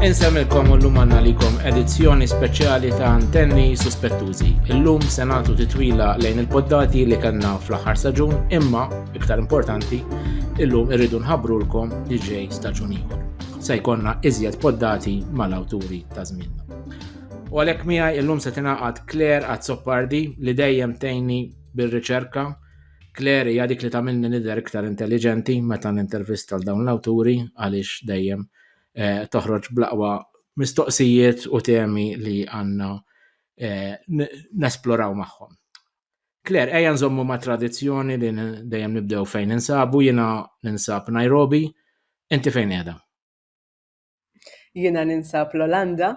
Insemmilkom u llum għanna likom edizzjoni speċjali ta' antenni suspettużi. Illum se nagħtu titwila lejn il-poddati li kellna fl-aħħar staġun, imma iktar importanti, illum irridu nħabrulkom li ġej staġun ieħor. Se jkollna iżjed poddati mal-awturi ta' żmienna. U għalhekk miegħi illum se tingħaqad Claire Azzopardi li dejjem tejni bir-riċerka Claire hija dik li tagħmilni nidher iktar intelliġenti meta nintervista l dawn l-awturi għaliex dejjem eh, toħroġ bl-aqwa mistoqsijiet u temi li għandna eh, nesploraw magħhom. Claire, ejja nżommu ma' tradizzjoni li dejjem nibdew fejn insabu, jiena ninsab Nairobi, inti fejn qiegħda? Jiena ninsab l-Olanda,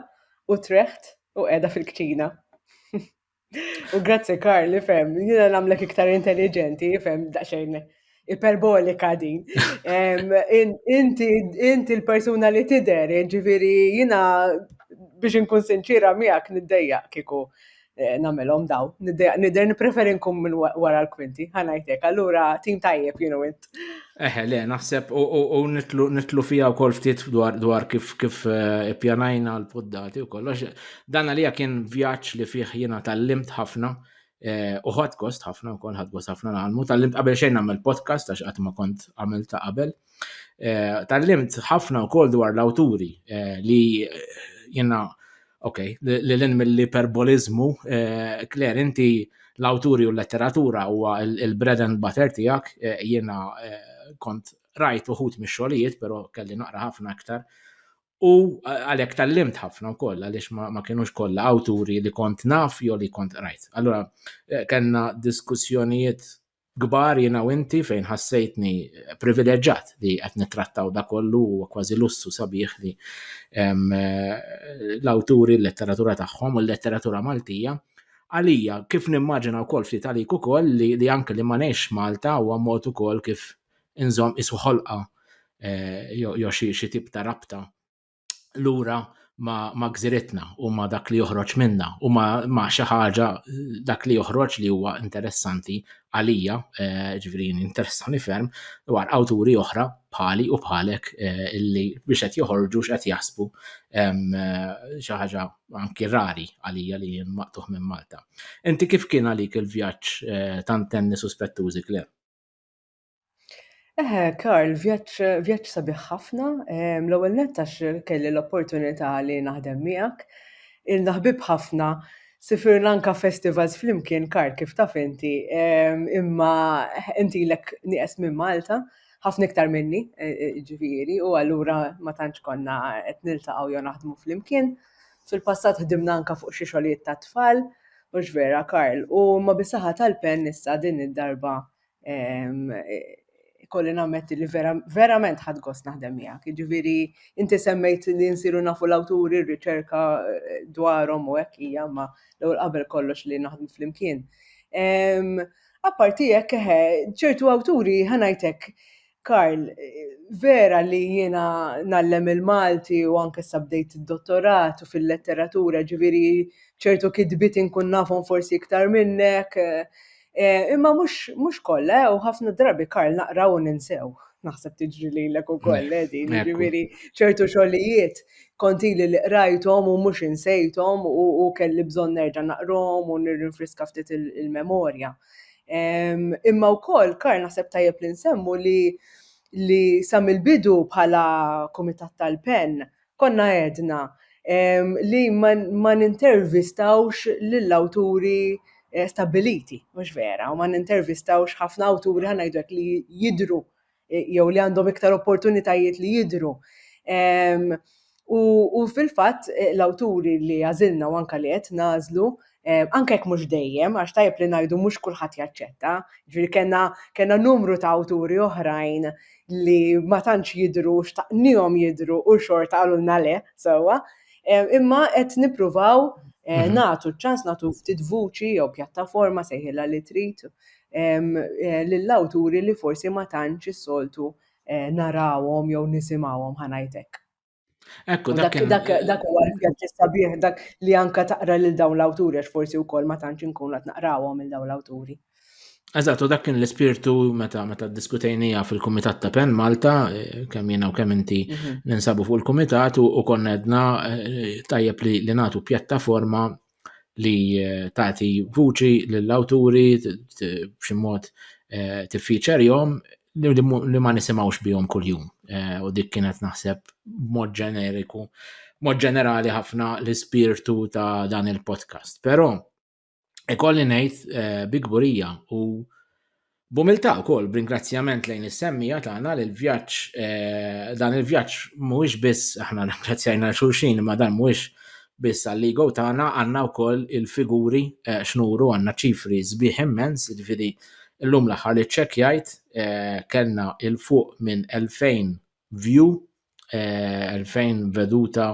Utrecht u qiegħda fil-kċina. U grazzi Karl, fem, jina namlek iktar intelligenti, fem, daċxajn iperbolika din. Inti l-persuna li tider, ġiviri jina biex nkun sinċira miegħek niddejja kiku Eh, namelom daw. Nider nipreferi nkun minn wara l-kwinti, ħanajtek, allura tim tajjeb jenu int. Eħe, le, naħseb u nitlu fija u kol ftit dwar kif kif eh, pjanajna l-poddati u kollox. Dan għalija kien vjaċ li fih jena tal-limt ħafna eh, u ħad gost ħafna u kol ħad gost ħafna naħalmu. Tal-limt qabel xejn għamil podcast għax għatma kont għamil ta' qabel. Tallimt ħafna wkoll dwar l-awturi li jenna ok, li l-in mill-iperboliżmu, Claire, inti l-awturi u l-letteratura huwa il-bread and butter tiegħek, jiena kont rajt uħut mix-xogħlijiet, però kelli naqra ħafna aktar. U għalhekk tallimt ħafna wkoll għaliex ma kienux kollha awturi li kont naf jew li kont rajt. Allura eh, kellna diskussjonijiet kbar jiena u inti fejn ħassejtni privileġġat li qed nittrattaw da kollu huwa kważi lussu sabiħ li l-awturi l-letteratura tagħhom u l-letteratura Maltija għalija kif nimmaġina wkoll ftit għalik ukoll li, li anke li ma ngħix Malta huwa mod ukoll kif inżomm isu ħolqa eh, jew xi tip ta' rabta lura ma, ma gżiritna u ma dak li joħroġ minna u ma, ma xi ħaġa dak li joħroġ li huwa interessanti għalija, eh, ġifieri interessani ferm dwar awturi oħra bħali u bħalek eh, illi biex qed joħorġu x'qed jasbu eh, xi ħaġa anki rari għalija li jien maqtuħ minn Malta. Inti kif kien għalik il-vjaġġ tant tenni suspettużi klem? Eħe, Karl, vjaġġ vjaġġ sabiħ ħafna, ehm, l-ewwel nett għax kelli l-opportunità li naħdem miegħek. Ilna ħbieb ħafna, sifirna anka festivals flimkien, Karl, kif taf inti, ehm, imma intilek nieqes minn Malta, ħafna iktar minni, e, e, ġifieri, u allura ma tantx konna qed niltaqgħu jew naħdmu flimkien. Fil-passat ħdimna anka fuq xi xogħlijiet tat-tfal, mhux vera, Karl, u ma bisaħħa tal-pen issa din id-darba Ehm, kolli nammetti li verament ħad gost naħdem miegħek. Jiġifieri inti semmejt li nsiru nafu l-awturi, r-riċerka eh, dwarhom u hekk hija ma l-ewwel qabel kollox li naħdmu flimkien. Ehm, apparti hekk eħe, ċertu awturi ħanajtek Karl, Vera li jiena ngħallem il-Malti u anke issa bdejt id-dottorat u fil-letteratura ġifieri ċertu kitbiet inkun nafhom forsi iktar minnek, imma mhux kollha u ħafna drabi Karl naqra u ninsew. Naħseb tiġri lilek ukoll din, jiġifieri ċertu xogħlijiet kont ili li qrajthom u mhux insejthom u kelli bżonn nerġa' naqrahom u nirrinfriska ftit il-memorja. Imma wkoll, Karl, naħseb tajjeb li nsemmu li li sa mill-bidu bħala Kumitat tal-Pen konna għedna li ma nintervistawx lill-awturi stabbiliti, mhux vera, u ma nintervistawx ħafna awturi, ħa ngħidu hekk, li jidhru jew li għandhom iktar opportunitajiet li jidhru. U fil-fatt eh, l-awturi li għażilna u anka li qed nażlu, eh, anke jekk mhux dejjem, għax tajjeb li ngħidu mhux kulħadd jaċċetta, ġifieri kellna kellna numru ta' awturi oħrajn li ma tantx jidhru xtaqnihom jidhru u xorta qalulna le sewwa, eh, imma qed nippruvaw mhm. nagħtu ċans nagħtu ftit vuċi jew pjattaforma sejħilha li trid lil awturi li forsi ma tantx is-soltu narawhom jew nisimgħuhom ħa ngħid hekk. Ekku, dak dak huwa l-vjaġġ sabiħ dak li anka taqra lil dawn l-awturi għax forsi wkoll ma tantx inkun qed naqrawhom il dawn l-awturi. Eżatt, u dak kien l-ispirtu meta meta diskutejnija fil-Kumitat ta' Pen Malta, eh, kemm jiena u kemm inti mhm. ninsabu fuq il-Kumitat u konna edna eh, tajjeb li nagħtu pjattaforma li eh, tagħti vuċi lill-awturi b'xi mod eh, tiffiċerjhom li ma nisimgħux bihom kuljum. Eh, u dik kienet naħseb mod ġeneriku, mod ġenerali ħafna l-ispirtu ta' dan il-podcast. Però ikolli ngħid bi gburija u B'umiltà wkoll, b'ringrazzjament lejn is-semmiegħa tagħna li l-vjaġġ dan il-vjaġġ mhuwiex biss aħna nirringrazzjajna xulxin imma dan mhuwiex biss għall-ego tagħna għandna wkoll il-figuri eh, x'nuru għandna ċifri sbieħ immens, jiġifieri llum l-aħħar li ċċekkjajt eh, kellna il fuq minn 2000 view, 2000 eh, veduta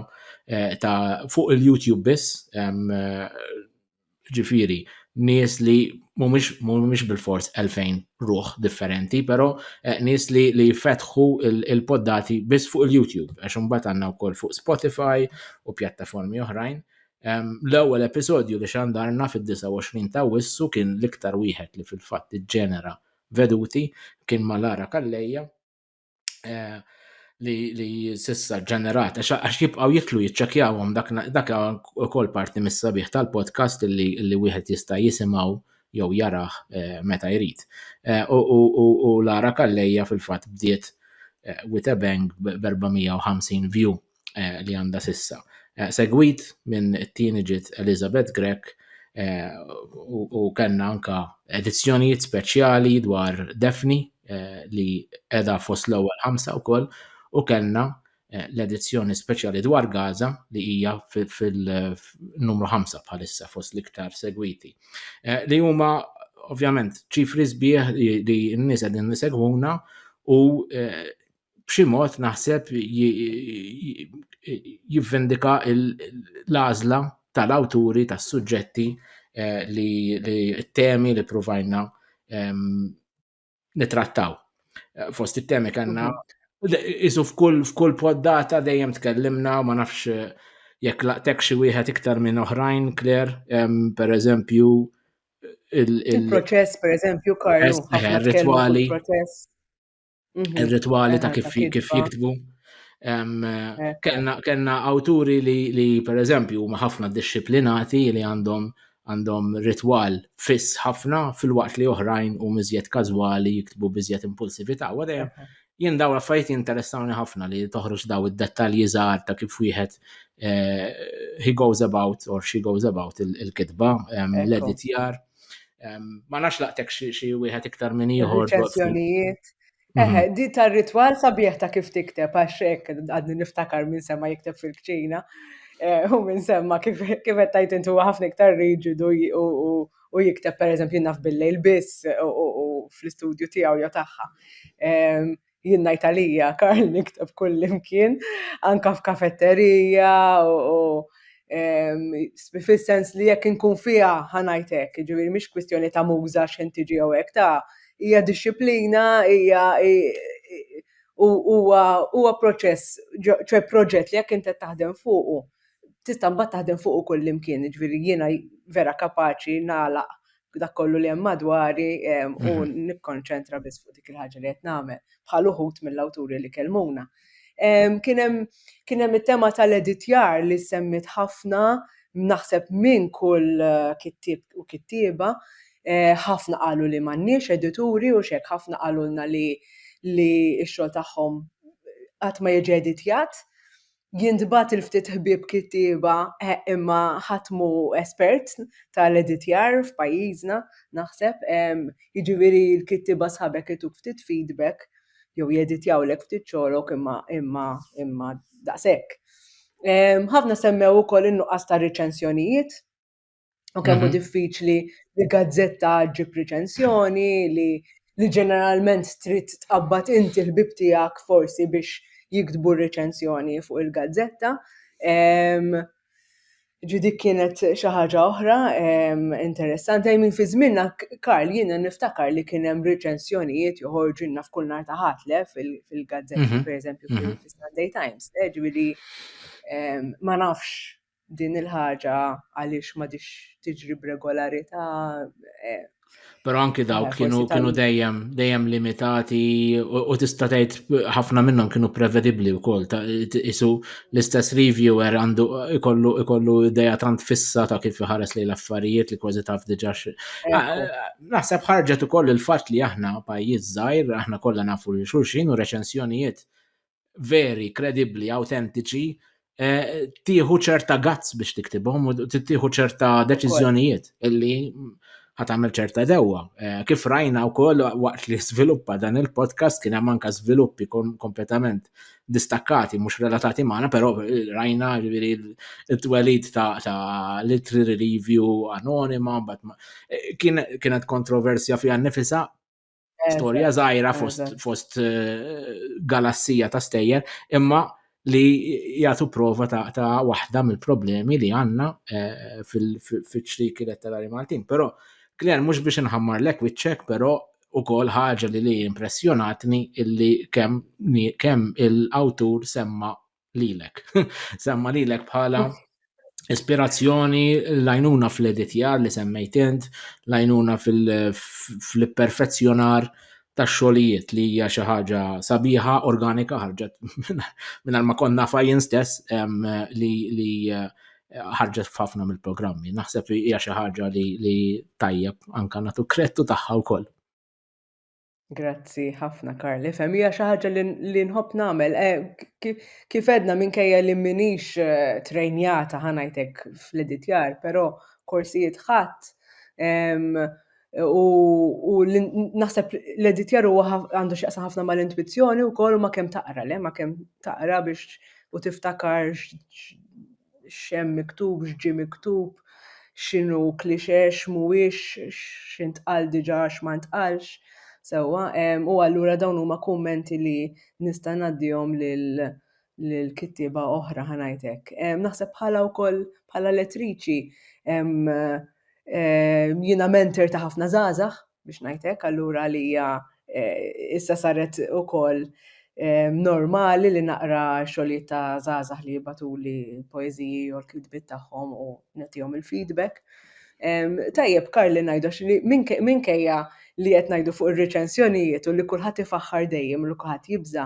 ta' fuq il-YouTube biss Ġifiri, nies li mhumiex bil-fors 2000 ruħ differenti, però eh, nies li li fetħu il-poddati biss fuq il-YouTube, għax imbagħad għandna wkoll fuq Spotify u pjattaformi oħrajn. L-ewwel episodju li xandarna fid-29 ta' Wissu kien l-iktar wieħed li fil-fatt iġġenera veduti kien ma' Lara Kalleja. eh, li, li sissa ġenerat, għax jibqaw jitlu jitċakjawhom dak, dak ukoll parti mis-sabiħ tal-podcast li, li wieħed jista' jisimgħu jew jaraħ eh, meta jrid. Eh, u Lara Kallejja fil-fatt bdiet eh, with a bang b'450 view li għandha s'issa. Segwit minn it-tieni ġiet Elizabeth Grech u kellna anka edizzjonijiet speċjali dwar Daphne li qiegħda fost l-ewwel ħamsa wkoll u kellna l-edizzjoni speċjali dwar Gaza li hija fil-numru ħamsa bħalissa fost l-iktar segwiti. Li huma ovvjament ċifri sbieħ li n-nies qegħdin isegwuna u b'xi mod naħseb jivvendika l-għażla tal-awturi tas-suġġetti eh, li t-temi li provajna ehm, nitrattaw. Eh, fost it-temi kanna mhm. isu f'kull f'kull poddata dejjem tkellimna ma nafx eh, jekk laqtek xi wieħed iktar minn oħrajn Kler, ehm, per eżempju il-proċess per eżempju Karlu. Ritwali. Mhm. ir-ritwali ta' kif jiktbu. Eh. Kenna awturi li per eżempju huma ħafna disciplinati li għandhom għandhom ritwal fiss ħafna fil-waqt li oħrajn u miżjed każwali jiktbu biżjed impulsività. U dejjem jien daw affarijiet interessawni ħafna li toħroġ daw id-dettalji żgħar ta' kif wieħed eh, he goes about or she goes about il-kitba, l-editjar. Il Ma nafx laqtek xi wieħed iktar minn ieħor. Reċenzjonijiet. Mhm. Eħe, di tar-ritwal sabiħ ta' kif tikteb għax hekk għadni niftakar minn sema jikteb fil-kċina eh, u minn semma kif qed tajt intu ħafna iktar riġidu u jikteb pereżempju naf billejl biss u fl-istudju tiegħu jew tagħha. jien ngħid għalija Karl nikteb kullimkien, anka f'kafetterija u fis-sens li jekk inkun fiha ħa ngħid hekk, jiġifieri mhix kwistjoni ta' muża x'ħin tiġi jew hekk, ta' hija dixxiplina, hija huwa huwa proċess, ċe proġett li jekk int qed taħdem fuqu tista' mbagħad taħdem fuqu kullimkien, jiġifieri jiena vera kapaċi nagħlaq dak kollu li hemm madwari ehm, u mhm. nikkonċentra biss fuq dik il-ħaġa li qed nagħmel bħal uħud mill-awturi li kelmuna. Ehm, kien hemm it-tema tal-editjar li semmit ħafna naħseb minn kull eh, kittib u kittieba eh, ħafna qalu li m'għandniex edituri u xek ħafna qalulna li li x-xogħol tagħhom qatt ma jiġi editjat. jintbagħat il ftit ħbieb kittieba imma ħadd mhu espert tal-editjar f'pajjiżna naħseb, jiġifieri l-kittieba sħabek ituk ftit feedback jew jeditjawlek ftit xogħlok imma imma imma daqshekk. Ħafna semmew ukoll in-nuqqas ta' riċensjonijiet. u kemm hu mhm. diffiċli li gazzetta ġib riċensjoni li li ġeneralment trid tqabbad inti l-bib tiegħek forsi biex jiktbu r-riċensjoni fuq il-gazzetta. Ġudi kienet xi ħaġa oħra interessanti min fi żminna Karl jiena niftakar li kien hemm riċensjonijiet joħorġu naf kull nhar ta' ħatle fil-gazzetta mhm. pereżempju mhm. fil-Sunday Times, eh, ġifieri ma nafx din il-ħaġa għaliex ma dix tiġri b'regolarità. Eh, Pero anki eh, dawk kienu kienu dejjem dejjem limitati u tista' tgħid ħafna minnhom kienu prevedibbli wkoll ta' isu l-istess reviewer għandu ikollu ikollu idea tant fissa ta' kif iħares lejn l-affarijiet li kważi taf diġà ah, naħseb ħarġet ukoll il-fatt li aħna pajjiż żgħir aħna kollha nafu li xulxin u reċensjonijiet veri, kredibbli, awtentiċi, eh, tieħu ċerta gazz biex tiktibhom u tieħu ċerta deċiżjonijiet illi ħatamel ċerta dewwa. Eh, kif rajna u koll waqt li sviluppa dan il-podcast kien hemm anka sviluppi kompletament distakkati, mhux relatati magħna, però eh, rajna ġifieri t-twelid ta' literary review anonima, eh, kienet kontroversja fiha nifisa, storja żgħira fost eh, galassija ta' stejjer, imma li jagħtu prova ta' waħda mill-problemi li għandna eh, fil-ċriki letterari Maltin. Però Kler mhux biex inħammar lek wiċċek, però ukoll ħaġa li li impressjonatni illi kemm kemm il-awtur semma lilek. Semma lilek bħala ispirazzjoni, lajnuna fl-editjar li semmejt int, lajnuna fil-perfezzjonar ta' xogħlijiet li hija xi ħaġa sabiħa, organika ħarġet minn ma konna fajjen stess li eh, ħarġet f'ħafna mill-programmi. Naħseb hija xi ħaġa li tajjeb anka natu krettu tagħha wkoll. Grazzi ħafna Karl, ifhem hija xi ħaġa li nħobb nagħmel. Eh, kif edna minkejja li minix eh, trejnjata ħanajtek fl-editjar, però korsijiet ħadd u naħseb l-editjar huwa għandu x'jaqsa ħafna mal-intuizzjoni wkoll u ma kemm taqra le, ma kemm taqra biex u tiftakar x'hemm miktub, x'ġie miktub, x'inhu cliché, x'mhuwiex, x'intqal diġà, x'ma ntqalx sewwa. U allura dawn huma kummenti li nista' ngħaddihom lil lil kittieba oħra ħa ngħid hekk. Naħseb bħala wkoll bħala lettriċi jiena mentor ta' ħafna żgħażagħ biex ngħid hekk, allura li hija eh, issa saret ukoll eh, normali li naqra xogħlijiet ta' żgħażagħ li jibatuli poeżiji u l-kitbiet tagħhom u nagħtihom il-feedback. Tajjeb, Karli najdox li minkejja li qed ngħidu fuq ir-reċensjonijiet u li kulħadd ifaħħar dejjem u li kulħadd jibża,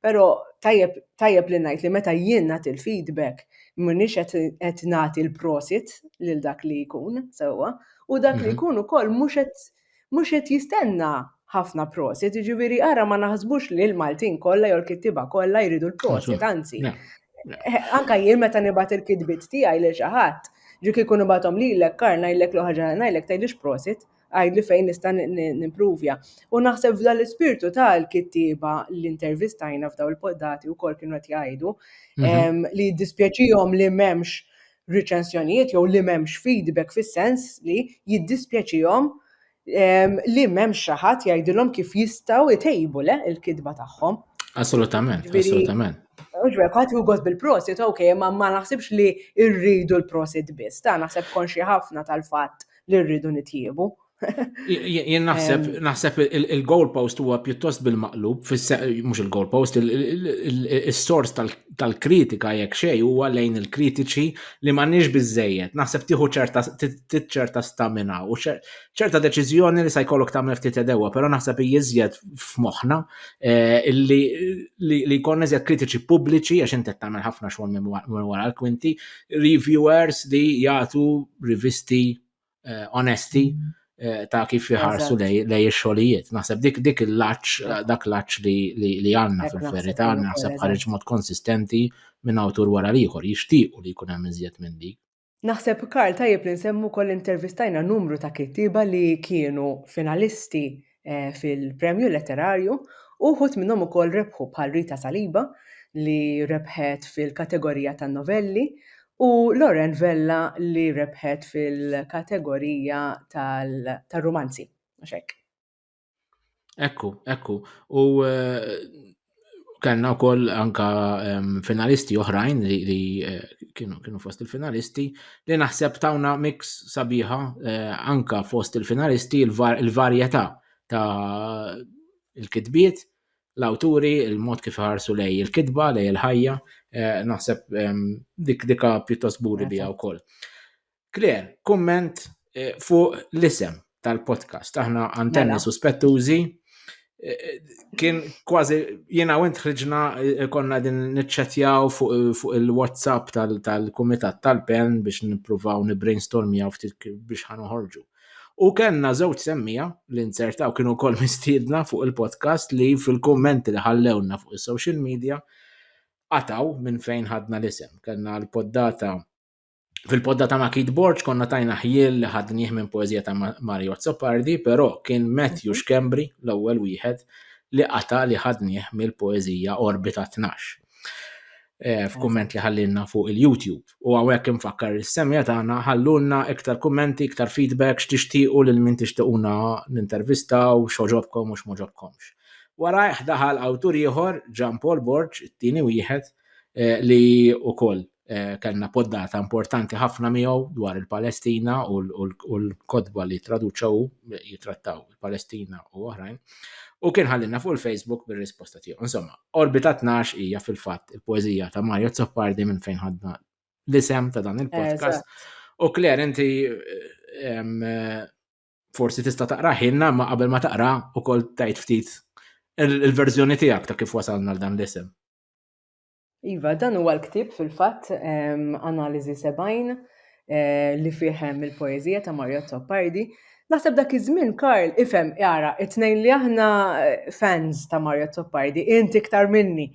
Però tajjeb tajjeb li ngħid li meta jien nagħti l-feedback m'iniex qed nagħti l-prosit lil dak li jkun sewwa u dak li mhm. jkun ukoll mhux qed mhux qed jistenna ħafna prosit, ġiviri ara ma naħsbux li l-Maltin kollha jew l-kittiba kollha jridu l-prosit, anzi. Eh, anka jien meta nibgħat il-kitbit tiegħi lil xi ħadd, ġik ikun ibgħathom lilek kar ngħidlek l ħaġa ngħidlek tgħidlix prosit, Għidli fejn nista' nimprovja. U naħseb f'dan l-ispirtu ta' l-kittieba li intervistajna f'daw il-poddati u kol kienu qed jgħidu mhm. li jiddispjaċihom li m'hemmx riċensjonijiet jew li m'hemmx feedback fis-sens li jiddispjaċihom li m'hemm xi ħadd jgħidilhom kif jistgħu jtejbu le il-kitba tagħhom. Assolutament, assolutament. Uġbek, għati u għod bil-prosit, ok, ma ma naħsibx li irridu l-prosit biss, ta' naħseb konxi ħafna tal-fat li rridu nitjiebu. Jien naħseb naħseb il-goalpost huwa pjuttost bil-maqlub, mhux il-goalpost, is-sors tal-kritika jekk xejn huwa lejn il-kritiċi li m'għandniex biżejjed. Naħseb tieħu ċerta ċerta stamina u ċerta deċiżjoni li se jkollok tagħmel ftit edewwa, però naħseb jiżjed f'moħħna eh, li jkun iżjed kritiċi pubbliċi għax inti tagħmel ħafna xogħol minn wara l-kwinti reviewers li jagħtu rivisti eh, onesti eh, ta' kif jħarsu lej ix-xogħlijiet. Naħseb dik dik il-laċ, dak laċ li għandna fil-verità, naħseb ħareġ mod konsistenti minn awtur wara l-ieħor, jixtiequ li jkun hemm iżjed minn dik. Naħseb Karl tajjeb li nsemmu kol intervistajna numru ta' kittiba li kienu finalisti eh, fil-premju letterarju u wħud minnhom ukoll rebħu bħal Rita Saliba li rebħet fil-kategorija tan-novelli u Loren Vella li rebħet fil-kategorija tal-rumanzi. Ekku, ekku. U eh, kellna wkoll anka finalisti oħrajn li, li eh, kienu, kienu fost il-finalisti li naħseb tawna mix sabiħa eh, anka fost il-finalisti il-varjetà ta' il-kitbiet, l-awturi, il-mod kif ħarsu lej il-kitba, lej il-ħajja, eh, naħseb dik dika pjuttost buri bija wkoll. Claire, kumment eh, fuq l-isem tal-podcast. Aħna antenni mela. suspettużi. Eh, kien kważi jiena u ħriġna eh, konna din niċċetjaw fuq il-WhatsApp tal-Kumitat tal-Pen biex nippruvaw nibrainstormjaw ftit biex ħanoħorġu. U kellna żewġ semmija li nsertaw kienu kol mistiedna fuq il-podcast li fil-kommenti li ħallewna fuq is-social media għataw minn fejn ħadna l-isem. Kellna l-poddata Fil-podda ta' Makit Borġ konna tajna ħjiel li ħadnieh minn poeżija ta' Mario Azzopardi, però kien Matthew Schembri l-ewwel wieħed li qata' li ħadnieh mill-poeżija Orbita 12 eh, f'kumment li ħallilna fuq il-YouTube. U hawnhekk infakkar is-semja tagħna ħallulna iktar kummenti, iktar feedback x'tixtiequ lil min tixtiequna nintervistaw, x'oġobkom u x'moġobkomx. Wara daħal awtur ieħor, Ġan Paul Borġ, it-tieni wieħed, eh, li wkoll Eh, kellna poddata importanti ħafna miegħu dwar il-Palestina u l-kodba li traduċa u jitrattaw il-Palestina u oħrajn. U kien ħallina fuq il-Facebook bir-risposta tiegħu. Insomma, Orbita 12 hija fil-fatt il-poeżija ta' Mario Zoppardi minn fejn ħadna l-isem ta' dan il-podcast. U Claire, inti eh, forsi tista' taqra ħinna ma qabel ma taqra u kol tajt ftit il-verżjoni tiegħek ta' kif wasalna l-dan l-isem. Iva, dan huwa l-ktieb fil-fatt Analiżi 70 eh, li fih hemm il-poeżija ta' Mario Toppardi. Naħseb dak iż-żmien Karl ifhem jara it-tnejn li aħna eh, fans ta' Mario Toppardi, inti iktar minni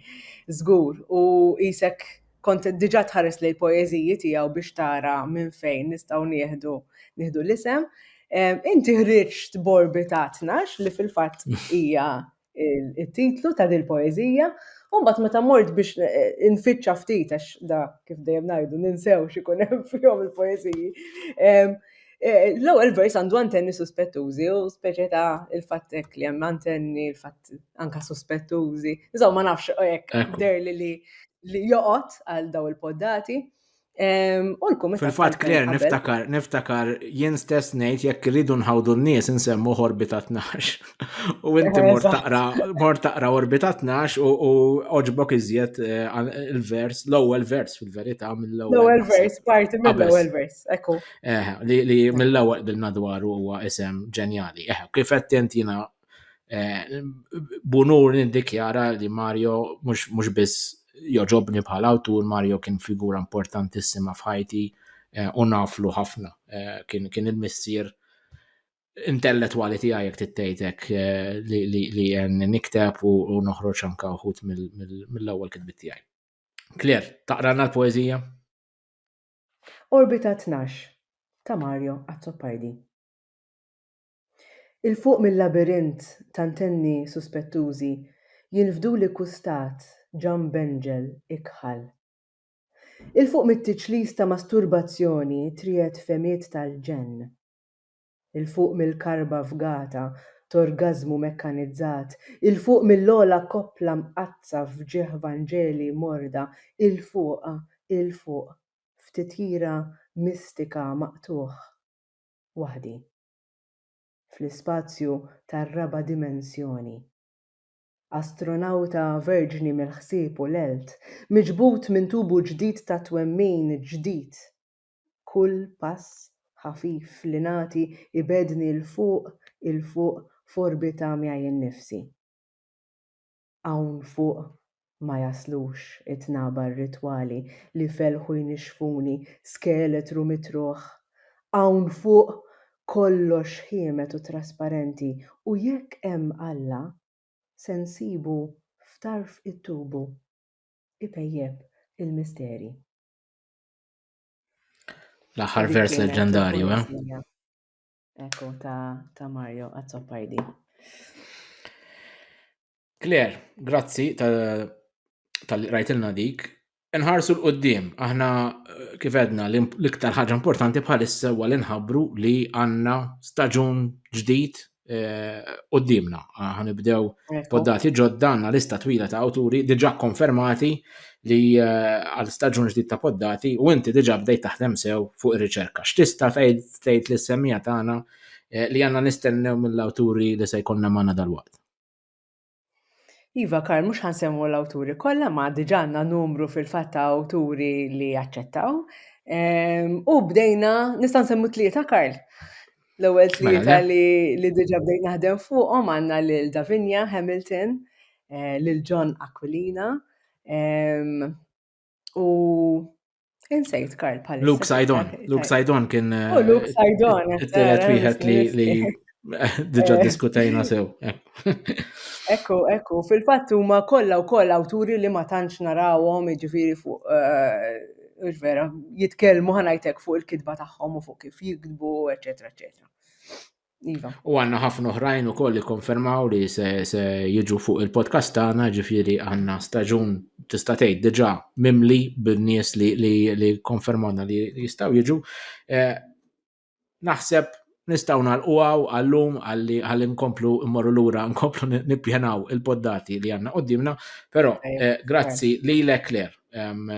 żgur u isek kont diġà tħares lejn poeżiji tiegħu biex tara minn fejn nistgħu nieħdu nieħdu l-isem. Eh, inti ħriġt borbi ta' 12 li fil-fatt hija it-titlu ta' din poeżija, u mbagħad meta mort biex eh, eh, infittxa ftit għax da kif dejjem ngħidu ninsew x'ikun hemm fihom il-poeżiji. Eh, l-ewwel vers għandu antenni suspettużi u speċi ta' il-fattek li hemm antenni il-fatt anka suspettużi. Insomma nafx hekk der li li joqgħod għal daw il-poddati. U l-kumitat. Fil-fatt Claire niftakar, niftakar jien stess ngħid jekk iridu nħawdu n-nies insemmu orbita 12. U inti mor taqra, mor taqra orbita 12 u oġbok iżjed eh, il-vers, l-ewwel vers fil-verità mill-ewwel. L-ewwel vers, parti mill-ewwel vers, ekku. Eh, li mill-ewwel bilna dwaru huwa isem ġenjali. Eh, kif qed intina Eh, bunur nindikjara li Mario mhux biss joġobni bħala awtur, Mario kien figura importantissima f'ħajti eh, u naflu ħafna. Eh, kien, kien il-missier intellettwali tiegħi jekk tittejtek li jen nikteb u noħroġ anka uħut mill-ewwel kitbit tiegħi. Kler, taqrana l-poeżija? Orbita 12 ta' Mario Azzopardi. 'l fuq mil-labirint t'antenni suspettużi jinfduli kkustat ġanb benġel ikħal. 'l fuq mit-tiċlis ta' masturbazzjoni triegħed fehmiet tal-ġenn. 'l fuq mill-karba fgata t'orgażmu mekkanizzat, 'l fuq mill-ogħla koppla mqaddsa f'ġieħ vanġeli morda, 'l fuq, 'l fuq f'titjira mistika maqtugħ. waħdi fl-ispazju tar-raba' dimensjoni. Astronawta verġni mill-ħsieb u l-għelt, miġbud minn tubu ġdid ta' twemmin ġdid. Kull pass ħafif li nagħti jbegħdni 'l fuq, 'il fuq f'orbita miegħi nnifsi. Hawn fuq ma jaslux it-tnaba rritwali li fellħu jnixxfuni skeletru mitruħ. Hawn fuq kollox ħiemet u trasparenti u jekk hemm Alla se nsibu f'tarf it-tubu ipejjep il-misteri. L-aħħar vers leġġendarju, eh? Ekku ta' ta' Mario Azzopardi. Claire, grazzi tal-rajtilna dik. Nħarsu l-qoddim, aħna eh, kif edna l-iktar ħaġa importanti bħalissa huwa li nħabbru li għandna staġun ġdid eh, qoddimna. Ħanibdew poddati ġodda għandna lista twila ta' awturi diġà konfermati li għal staġun ġdid ta' poddati u inti diġà bdejt taħdem sew fuq ir-riċerka. X'tista' tgħid li semmija tagħna eh, li għandna nistennew mill-awturi li se jkollna magħna dal-waqt? Iva Karl, mhux ħansemmu l-awturi kollha ma diġà għandna numru fil-fatt ta' awturi li jaċċettaw. Ehm, u bdejna, nista' nsemmu tlieta Karl. L-ewwel mela, tlieta li diġà bdejna naħdem fuqhom għandna lil Davinia Hamilton, eh, lil John Aquilina U insejt Karl Palissa. Luke Sajdon. Luke Sajdon kien. U oh, Luke eh, Sajdon. Telet wieħed li diġa eh. diskutajna sew. Ekku, ekku, fil-fatt huma kollha wkoll awturi li ma tantx narawhom jiġifieri fuq eh, vera, jitkellmu ħanajtek fuq il-kitba tagħhom u fuq kif jikdbu, eċetera, eċetera. Iva. U għanna ħafna oħrajn u koll li konfermaw li se, se jiġu fuq il-podcast tagħna ġifieri għanna staġun tista' tgħid diġà mimli bin-nies li, li, li konfermawna li jistgħu jiġu. Eh, naħseb nistgħu nagħlquaw għallum għalli għalli nkomplu mmorru lura nkomplu nippjanaw il-poddati li għandna qudiemna, però eh, grazzi lilek Claire,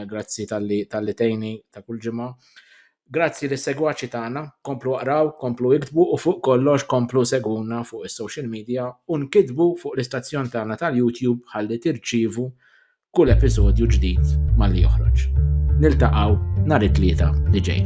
grazzi tal-li tal-li tejni ta' kull ġimgħa. Grazzi lis-segwaċi tagħna, komplu aqraw, komplu iktbu u fuq kollox komplu segwuna fuq is-social media u nkitbu fuq l-istazzjon tagħna tal-YouTube ħalli tirċievu kull episodju ġdid malli joħroġ. Niltaqgħu nhar it-Tlieta li ġej.